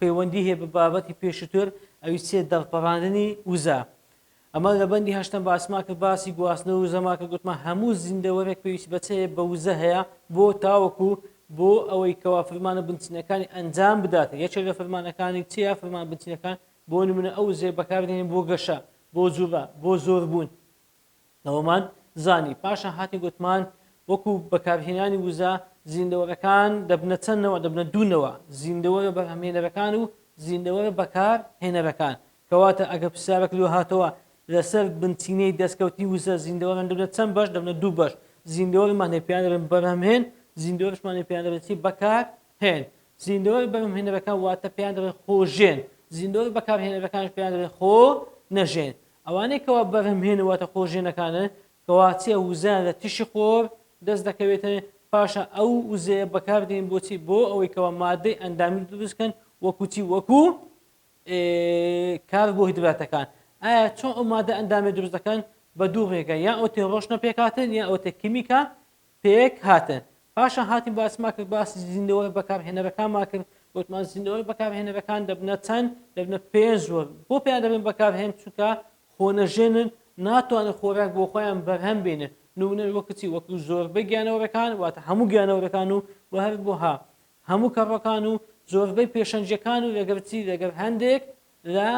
پەیوەندی هەیە بە بابەتی پێشووتر ئەوی سێ دەرپەڕاندنی وزە ئەمە لە بەندی هەشتم باسمان کرد باسی گواستنەوە وزەما کە گوتمە هەموو زیندەوەرێک پێویست بەچەیە بە وزە هەیە بۆ تاوەکو بۆ ئەوەی کەوا فرمانە بنچینەکانی ئەنجام بدات یەکێ لە فرمانەکانی چیا فرمان بنچینەکان بۆ نمونە ئەو زێ بەکاردێنین بۆ گەشە بۆ جوڵە بۆ زۆربوون ئەوەمان زانی پاشان هاتین گۆتمان وەکو بەکارهێنانی وزە زیندەوەرەکان دەبنە چەند نەوە دەبنە دوو نەوە زیندەوەرە بەرهەمهێنەرەکان و زیندەوەرە بەکار هێنەرەکان کەواتە ئەگەر پرسیارەک لۆ هاتەوە لەسەر بنچینەی دەستکەوتی وزە زیندەوەران دەبنە چەند بەش دەبنە دوو بەش زیندەوەرمان هەیە پێیان دەبن بەرهەمهێن زیندەوەرشمان هەیە پێیان دەبن چی بەکار هێن زیندەوەر بەرهەمهێنەرەکان واتە پێیان دەبن خۆژێن زیندەوەر بەکارهێنەرەکانش پێیان دەبن خۆ نەژێن ئەوانەی کەوا بەرهەمهێن واتە خۆژێنەکانن کەوا چیە وزەیان لە تیشی خۆر دەست دەکەوێتن پاشا ئەو وزەیە بەکار دێن بۆچی بۆ ئەوەی کەوا مادەی ئەندامی دروست کەن وەکو چی وەکو کار بۆ هیدراتەکان ئایا چۆن ئەو مادە ئەندامی دروست دەکەن بە دوو ڕێگە یا ئەو تێ ڕۆشنە پێکاتن یا ئەو تێ کیمیکە پێک هاتن پاشان هاتین باسمان کرد باسی زیندەوەی بەکارهێنەرەکانمان کرد وتمان زیندەوەی بەکارهێنەرەکان دەبنە چەند دەبنە پێنج وەر بۆ پێیان دەبن بەکارهێن چونکە خۆنەژێنن ناتوانن خۆراک بۆ خۆیان بەرهەم بێنن نمونەش وەک کچی وەک زۆربەی گیانەوەرەکان واتە هەموو گیانەوەرەکان و و هەر بۆها هەموو کەڕەکان و زۆربەی پێشەنجەکان و لەگەرچی لەگەر هەندێک لە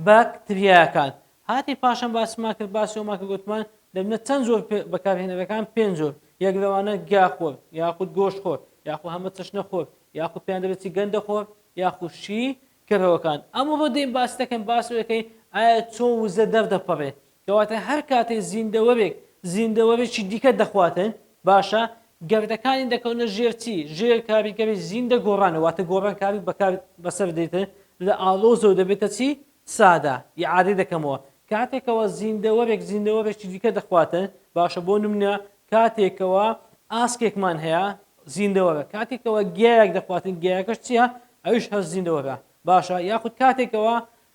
باک تریاکان هاتی پاشان باسمان کرد باسی ئەومان کە گوتمان دەبنە چەند جۆر بەکارهێنەرەکان پێنج جۆر یەک لەوانە گیا خۆر یاخود گۆش خۆر یاخو هەمە چەشنە خۆر یاخو پێیان دەبێتی گەندە خۆر یاخو شی کەرەوەکان ئەمە بۆ دەین باس دەکەن باسەکەی ئایا چۆن وزە دەردەپەڕێ کەواتە هەر کاتێ زیندەوەرێک زیندەوەرێکی دیکە دەخواتن، باشە گەردەکانی دەکەونە ژێر چی؟ ژێر کاریگەری زیندە گۆڕانە، واتە گۆڕانکاری بەکار بەسەر دێتن لە ئاڵۆزەوە دەبێتە چی؟ سادە. ئیعادەی دەکەمەوە. کاتێکەوە زیندەوەرێک زیندەوەرێکی دیکە دەخواتن، باشە بۆ نمونە کاتێکەوە ئاسکێکمان هەیە زیندەوەرە، کاتێکەوە گیایەک دەخواتن گیایەکەش چیە؟ ئەویش هەر زیندەوەرە. باشە یاخود کاتێکەوە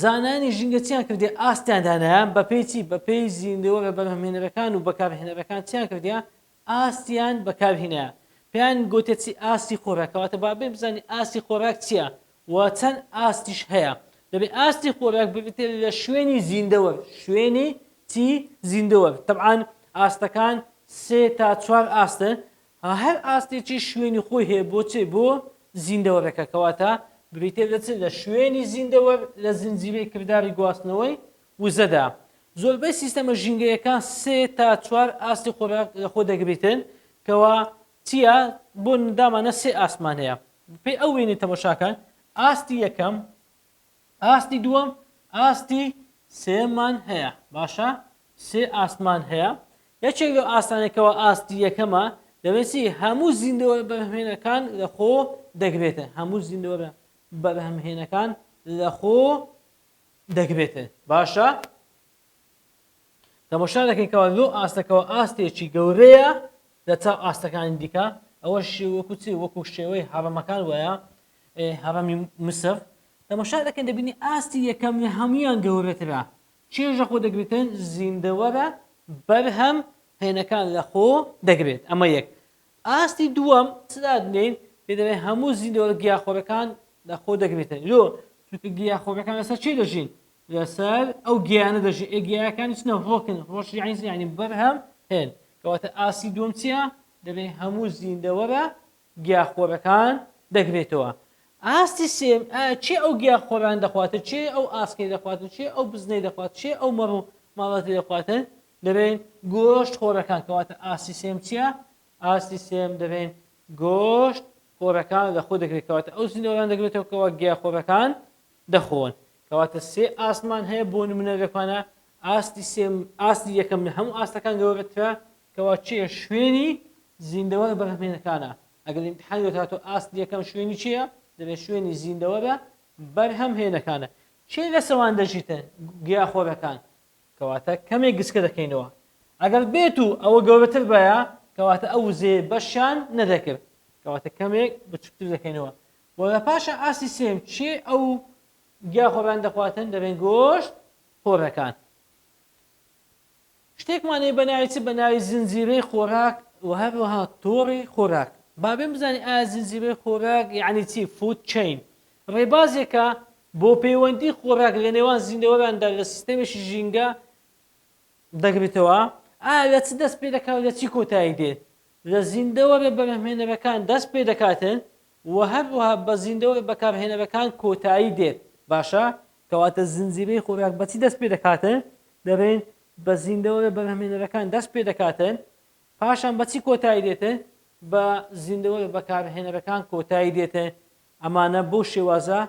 زانایانی ژینگە چیان کردیە ئاستیان دانایە بەپێی چی بەپێی زیندەوەرە بەرهەمهێنەرەکان و بەکارهێنەرەکان چیان کردیە ئاستیان بەکارهینایە پێیان گوتە چی ئاستی خۆراکەواتە بابێ بزانین ئاستی خۆراک چییە و چەند ئاستیش هەیە دەبێ ئاستی خۆراک ببێتێ لە شوێنی زیندەوەر شوێنی چی زیندەوەر طبعاان ئاستەکان سێ تا چوار ئاستن ها هەر ئاستێکی شوێنی خۆی هەیە بۆ چێ بۆ زیندەوەرەکە کەواتە بریتیە لە چ لە شوێنی زیندەوەر لە زنجیرەی کرداری گواستنەوەی وزەدا زۆربەی سیستەمە ژینگەیەکان سێ تا چوار ئاستی خۆراک لە خۆ دەگریتن کەوا تیە بۆ دامانە سێ ئاسمان هەیە پێی ئەو وێنەی تەمەشاکەن ئاستی یەکەم ئاستی دووەم ئاستی سێمان هەیە باشە سێ ئاستمان هەیە یەکێک لەو ئاستانە کەەوە ئاستی یەکەمە دەبێتی هەموو زیندەوە بەهێنەکان لە خۆ دەگرێتە هەموو زیندەوە بە بەهمهێنەکان لە خۆ دەگرێتێ باشە تەمەشا دەکەیتەوە لۆ ئاستەکەەوە ئاستێکی گەورەیە لە چاو ئاستەکانی دیکە ئەوە شێوەکوچی وەکو شێوەی هەڕەمەکان وایە هەڕەمی مسڕ تەمەشا دەکەن دەبینی ئاستی یەکەم لە هەمویان گەورەترە چێژ لە خۆ دەگرتن زیندەوەرە بەرهەم هێنەکان لە خۆ دەگرێت ئەمە یەک ئاستی دووەم سلادنین پێدەێ هەموو زیندەوەرە گیاخۆرەکان لە خۆ دەگرێتن لۆ چونکە گیاخۆرەکان لەسەر چی دەژین لەسەر ئەو گیانە دەژی ئێگیاکانی چنە ڕۆکن ڕۆژ یعنی یعنی بەرهەم هێن کەواتە ئاسی دوم چیە دەبێ هەموو زیندەوەرە گیاخۆرەکان دەگرێتەوە ئاستی سێم ئایا کێ ئەو گیاخۆران دەخواتن کێ ئەو ئاسکەی دەخواتن کێ ئەو بزنەی دەخوات کێ ئەو مەڕ و ماڵاتی دەخواتن دەرێن گۆشت خۆرەکان کەواتە ئاستی سێم چییە ئاستی سێم دەرێن گۆشت خۆرەکان لە خۆ دەگرێت کەواتە ئەو زیندەوەران دەگرێتەوە کەەوە گیاخۆرەکان دەخۆن کەواتە سێ ئاسمان هەیە بۆ نمونە لەکوانە ئاستی سێم ئاستی یەکەم لە هەموو ئاستەکان گەورەترە کەوا چیە شوێنی زیندەوەرە بەرهەمهێنەکانە، ئەگەر ئیمتیحانی وەرهاتوو ئاستی یەکەم شوێنی چییە؟ دەلێ شوێنی زیندەوەرە بەرهەمهێنەکانە. کێ لە سەوان دەژیتە؟ گیاخۆرەکان. کەواتە کەمێک گچکە دەکەینەوە. ئەگەر بێت و ئەوە گەورەتر بایە، کەواتە ئەو وزەیە بەشیان نەدەکرد. کەواتە کەمێک بچووکتر دەکەینەوە. وە لە پاشان ئاستی سێیەم کێ ئەو گیاخۆرانە دەخواتن؟ دەلێن گۆشت خۆرەکان. شتێکمان هەیە بەناوی چ؟ بەناوی زنجیرەی خۆراک و هەروەها تۆڕی خۆراک. بابێم بزانین ئایا زنجیرەی خۆراک یەعنی چی؟ Food Chain ڕێبازێکە بۆ پەیوەندی خۆراک لە نێوان زیندەوەراندا لە سیستەمێکی ژینگە دەگرێتەوە. ئایا لە چ دەست پێدەکات و لە چی کۆتایی دێت؟ لە زیندەوەرە بەرهەمهێنەرەکان دەست پێدەکاتن وە هەروەها بە زیندەوەری بەکارهێنەرەکان کۆتایی دێت باشە. کەواتە زنجیرەی خۆراک بەچی دەست پێدەکاتن؟ دەرێن بە زیندەوەرە بەرهەمێنەرەکان دەست پێدەکاتن پاشان بە چی کۆتایی دێتن؟ بە زیندەوەرە بەکارهێنەرەکان کۆتایی دێتن ئەمانە بەو شێوازە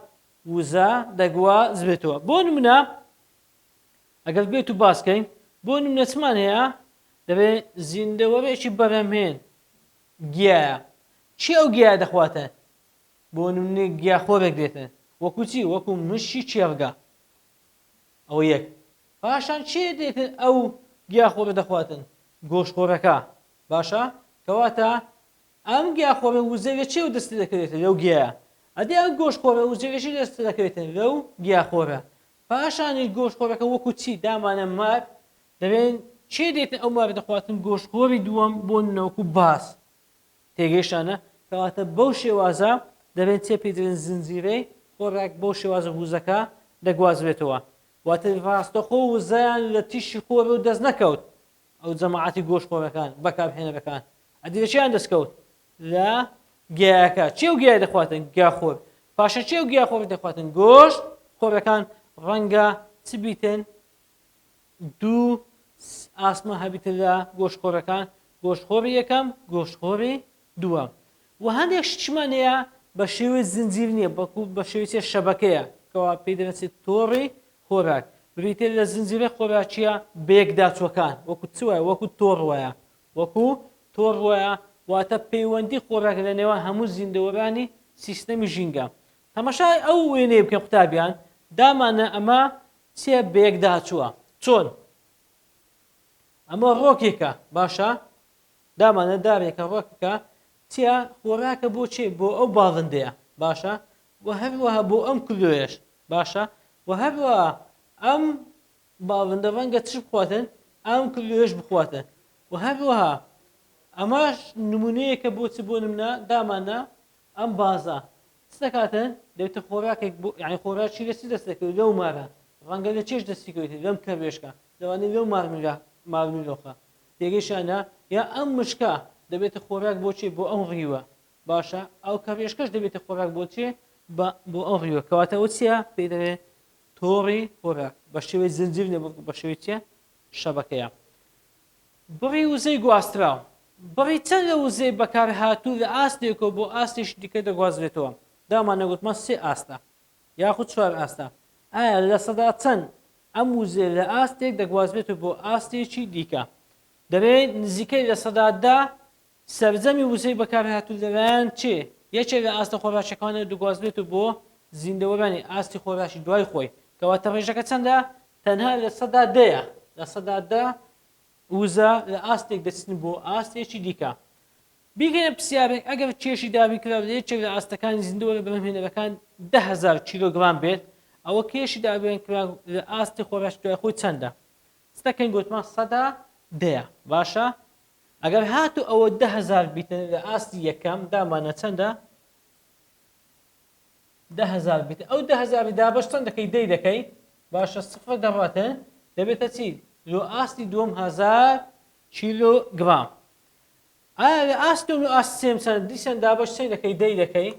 وزە دەگوا زرێتەوە بۆ نمونە ئەگەر بێت و باسکەین بۆ نمونە چمان هەیە دەبێ زیندەوەرێکی بەرەمێن گیایە چی ئەو گیایە دەخواتە بۆ نمونە گیا خۆرێک دێتە وەکو چی وەکو مشی چێڕگە ئەوە یەک پاشان چێ دێتن ئەو گیا خۆرە دەخواتن گۆش خۆرەکە باشە کەواتە ئەم گیا خۆرە وزەوێ چێ و دەست دەکەوێتە لەو گیایە ئەدی ئەو گۆش خۆرە وزەوێژی دەست دەکەوێتن لەو گیا خۆرە پاشانی گۆش خۆرەکە وەکو چی دامانە مار دەبێن چێ دێتە ئەو ماڤێتە خواستن گۆش خۆری دووەم بۆ نەوەکو باس تێگەیشتانە کەواتە بەو شێوازە دەبێن چێ پێدرێن زنجیرەی خۆراک بەو شێوازە ووزەکە دەگوازرێتەوە واتە ڕاستەخۆ وزەیان لە تیشی خۆرەوە دەست نەکەوت ئەو جەماعەتی گۆش خۆرەکان بەکار هێنەرەکان ئەدی لەچیان دەستکەوت لە گیاکە چێو گیای دەخواتن گیاخۆر پاشە چێو گیاخۆر دەخواتن گۆشت خۆرەکان ڕەنگە چ بیتن دوو ئاسمان هەبیتە لە گۆشتخۆرەکان، گۆشتخۆری یەکەم، گۆشتخۆری دووەم. وە هەندێک شتشمان هەیە بە شێوەی زنجیر نییە، بەڵکو بە شێوەی چیە شەبەکەیە، کەوا پێی دەناسرێت تۆڕی خۆراک. بریتیە لە زنجیرە خۆراکییە بەیەکداچووەکان، وەکو چ وایە؟ وەکو تۆڕ وایە، وەکو تۆڕ وایە، واتە پەیوەندی خۆراک لە نێوان هەموو زیندەوەرانی سیستەمی ژینگە. تەماشای ئەو وێنەیە بکەن قوتابیان، داماننە ئەمە چیە بەیەک داچوە چۆن ئەمە ڕۆکێکە باشە دامانە دارێکە ڕۆکەکە چیە خۆراکە بۆ چێ بۆ ئەو باڵندەیە باشە و هەروەها بۆ ئەم کلۆێش باشە و هەروە ئەم باڵندە ڕەنگە چ بخواتن ئەم کلۆێش بخواتە و هەروەها ئەماش نمونەیەکە بۆ چ بۆ نمنا دامانە ئەم بازە چ دەکاتە دەبێتە خۆراکێک بۆ یانی خۆراکی لە چ دەستەکەوێت لەو مارە ڕەنگە لە چێش دەستی کەوێتێت لەم کەروێشکە لەوانەیە لەو مارملا مارملۆخە تێگەیشتانە یا ئەم مشکە دەبێتە خۆراک بۆ چێ بۆ ئەم ڕیوە باشە ئەو کەروێشکەش دەبێتە خۆراک بۆ چێ بە بۆ ئەم ڕیوە کەواتە ئەوە چییە پێی دەڵێت تۆڕی خۆراک بە شێوەی زنجیر نەبوو بە شێوەی چییە شەبەکەیە بڕی وزەی گواستراو، بڕی چەند لە وزەی بەکارهاتوو لە ئاستێکەوە بۆ ئاستێکی دیکە دەگوازرێتەوە، داماننا گوتمان سێ ئاستە یاخود چوار ئاستە، ئایا لە سەدا چەند ئەم وزەیە لە ئاستێک دەگوازرێتەوە بۆ ئاستێکی دیکە؟ دەبێت نزیکەی لە سەدا دە سەرجەمی وزەی بەکارهاتوو لەلایەن چێ یەکێک لە ئاستە خۆرهاشەکانەوە دەگوازرێت و بۆ زیندەوەرانی ئاستی خۆرهاشی دوای خۆی، کەواتە ڕێژەکە چەندە؟ تەنها لە سەدا دەیە، لە سەدا دە وزە لە ئاستێک دەچن بۆ ئاستێکی دیکە. بیکەنە پرسیارێک، ئەگەر کێشی دابینکراو لە یەکێک لە ئاستەکانی زیندەوەرە بەرهەمهێنەرەکان دە هەزار کیلۆگرام بێت، ئەوە کێشی دابینکراو لە ئاستی خۆرهاشی دوای خۆی چەندە؟ چ دەکەین گوتمان سەدا دەیە، باشە؟ ئەگەر هاتوو ئەوە دە هەزار بیتە لە ئاستی یەکەم دامانە چەندە دە هەزار بیت ئەو دە هەزاری دابش چەند دەکەی دەی دەکەی باشە سفر دەڕاتە دەبێتە چی لۆ ئاستی دوم هزار کیلو گرام ئایا لە ئاست و ئاست سێم چەند دیسان دابش چەند دەکەی دەی دەکەی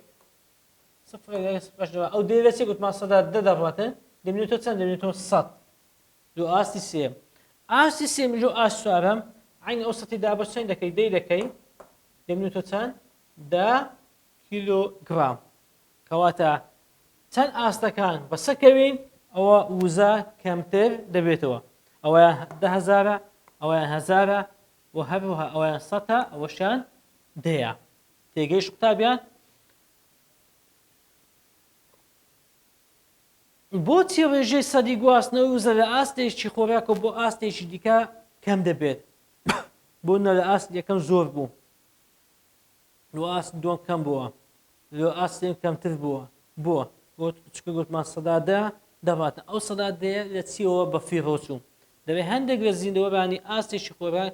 سفر سفر ئەو دەی لە چێ گوتمان سەدا دە دەڕاتە دەبێتەوە چەند دەبێتەوە سەد دوو ئاستی سێیەم ئاستی سێمیش و ئاست چوارەم عینی ئەوسەتی دا بە چەند دەکەی دەی دەکەی دەمینێتەوە چەند دە کیلوگرام کەواتە چەند ئاستەکان بەسەکەوین ئەوە وزە کەمتر دەبێتەوە ئەوەیان دههزارە ئەوەیان هەزارە و هەروها ئەوەیان سەتە ئەوەشان دەیە تێگەیش قوتابیان بۆچی ڕێژەی سەدی گواستنەوەی وزە لە ئاستێکی خۆراکەوە بۆ ئاستێکی دیکە کەم دەبێت؟ بۆ نە لە ئاست یەکەم زۆر بوو لۆ ئاست دووەم کەم بووە لۆ ئاستێن کەمتر بووە بۆ بۆ چکە گوتمان سەدادە دەباتە ئەو سەدادەیە لە چیەوە بە فیڕۆچوو دەبێت هەندێک لە زیندەوەرانی ئاستێکی خۆراک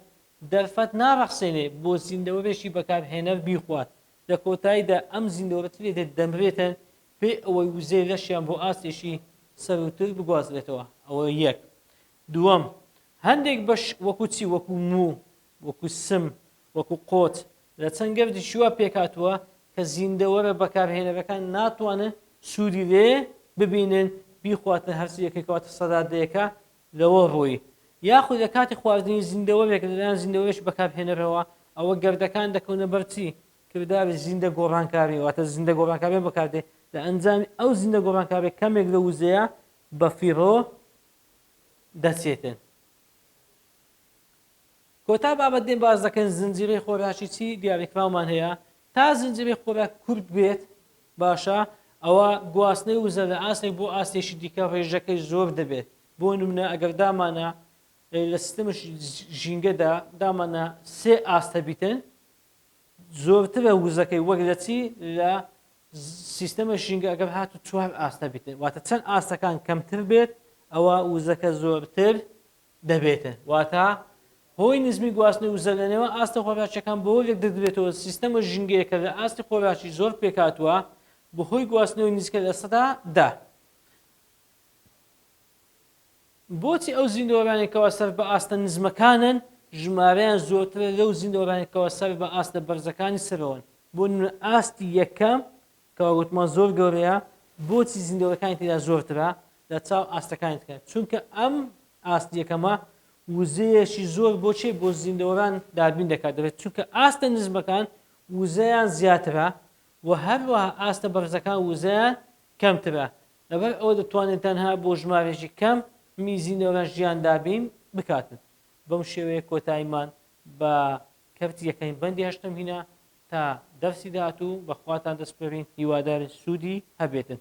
دەرفەت ناڕەخسێنێ بۆ زیندەوەرێکی بەکارهێنەر بیخوات لە کۆتاییدا ئەم زیندەوەرەتی لێ دەمرێتن بێ ئەوەی وزەی لەشیان بۆ ئاستێکی سەرووتر بگوازرێتەوە، ئەوە یەک. دووەم، هەندێک بەش وەکوو چی؟ وەکوو موو، وەکوو سم، وەکوو قۆچ، لە چەند گەردێکی وا پێکهاتووە کە زیندەوەرە بەکارهێنەرەکان ناتوانن سوودی لێ ببینن، بیخواتن، هەرچی یەکەی کەواتە سەرادەیەکە لەوە ڕووی. یاخود لە کاتی خواردنی زیندەوەرێک لەلایەن زیندەوەرێکی بەکارهێنەرەوە، ئەوە گەردەکان دەکەونە بەر چی؟ کرداری زیندە گۆڕانکاری واتە زیندە گۆڕانکارییە بەکاردێ لە ئەنجامی ئەو زیندە گۆڕانکاریە کەمێک لە وزەیە بە فیڕۆ دەچێتن کۆتا بابەت دێن باز دەکەن زنجیرەی خۆراکی چی دیاریکراومان هەیە تا زنجیرەی خۆراک کورت بێت باشە ئەوە گواستنەی وزە لە ئاستێک بۆ ئاستێکی دیکە ڕێژەکەی زۆر دەبێت بۆ نمونە ئەگەر دامانە لە سیستم ژینگەدا دامانە سێ ئاستە بیتن زۆرترە وزەکەی وەک لە چی لە سیستەمە ژینگە ئەگەر هات و چوار ئاستە بیت واتە چەند ئاستەکان کەمتر بێت ئەوە وزەکە زۆرتر دەبێتە واتە هۆی نزمی گواستنی وزە لەنێوە ئاستە خۆراکیەکان بۆ لێک دەدرێتەوە سیستەمە ژنگەیەکە لە ئاستی خۆراکی زۆر پێکاتوە بەهۆی گواستنەوەی نزیکە لە سەدا دا بۆچی ئەو زیندەوەرانەی کەوا سەر بە ئاستە نزمەکانن ژمارەیان زۆرترە لەو زیندەوەرانەی کەوا سەر بە ئاستە بەرزەکانی سەرەوەن؟ بۆ نمونە ئاستی یەکەم کەوا گوتمان زۆر گەورەیە بۆچی زیندەوەرەکانی تێدا زۆرترە لە چاو ئاستەکانی ترە؟ چونکە ئەم ئاست یەکەمە وزەیەکی زۆر بۆ چێ بۆ زیندەوەران دابین دەکات دەبێت چونکە ئاستە نزمەکان وزەیان زیاترە و هەروەها ئاستە بەرزەکان وزەیان کەمترە لەبەر ئەوە دەتوانن تەنها بۆ ژمارەیەکی کەم میزی نەوران ژیان دابین بکاتن. بەم شێوەیە کۆتایمان بە کەرتی یەکەمین بەندی هەشتەم هینا تا دەرسی داهاتوو بەخواتان دەسپێرین هیوادارین سوودی هەبێتن.